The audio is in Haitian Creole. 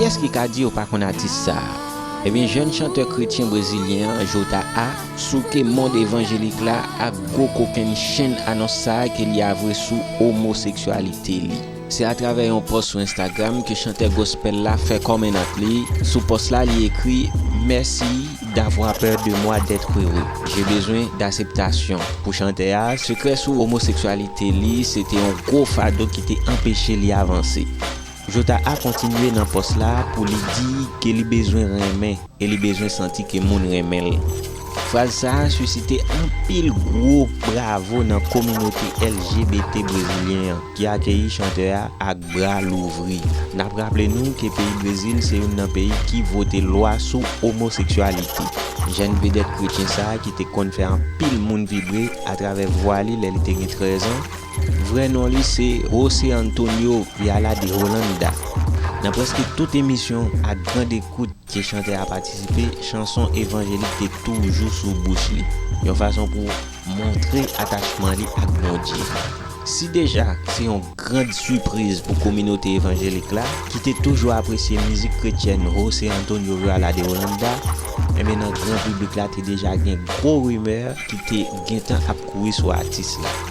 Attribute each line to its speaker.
Speaker 1: Kiyès ki ka di yo pa konn atis sa a? Ebyen jèn chantè kretyen brezilyen an Jota A souke mond evanjelik la ak gwo kokenn chenn anons sa a ke li avwe sou omoseksyalite li. Se atravè yon pòs sou Instagram ke chantè gospel la fè kòmenant li, sou pòs la li ekri, Merci d'avoir peur de moi d'être heureux, j'ai besoin d'acceptation Pou chantè a, sekrè sou omoseksyalite li se te yon gwo fado ki te anpeche li avanse. Jota A kontinye nan pòs la pou li di ke li bezwen renmen. E li bezwen santi ke moun renmen l. Fraz sa a sisite anpil gwo bravo nan kominote LGBT brezilyen an, ki akeyi chantè a ak bra louvri. N ap raple nou ke peyi Brezil se youn nan peyi ki vote lwa sou omoseksyalite. Jèn vedèt kretyen sa a ki te konn fè anpil moun vibre atravè vwa li lè li te gen 13 an, Vrè non li se José Antonio Viala de Holanda. Nan prèske tout emisyon ak grand ekout ke chantè a patisipe, chanson evanjelik te toujou sou bouch li, yon fason pou montre atachman li ak Bondye. Si deja se yon grand sipriz pou kominote evanjelik la, ki te toujou apresye mizik kretyèn José Antonio Viala de Holanda, enben nan gran piblik la te deja gen gwo rimè ki te gentan ap kouri sou atis la.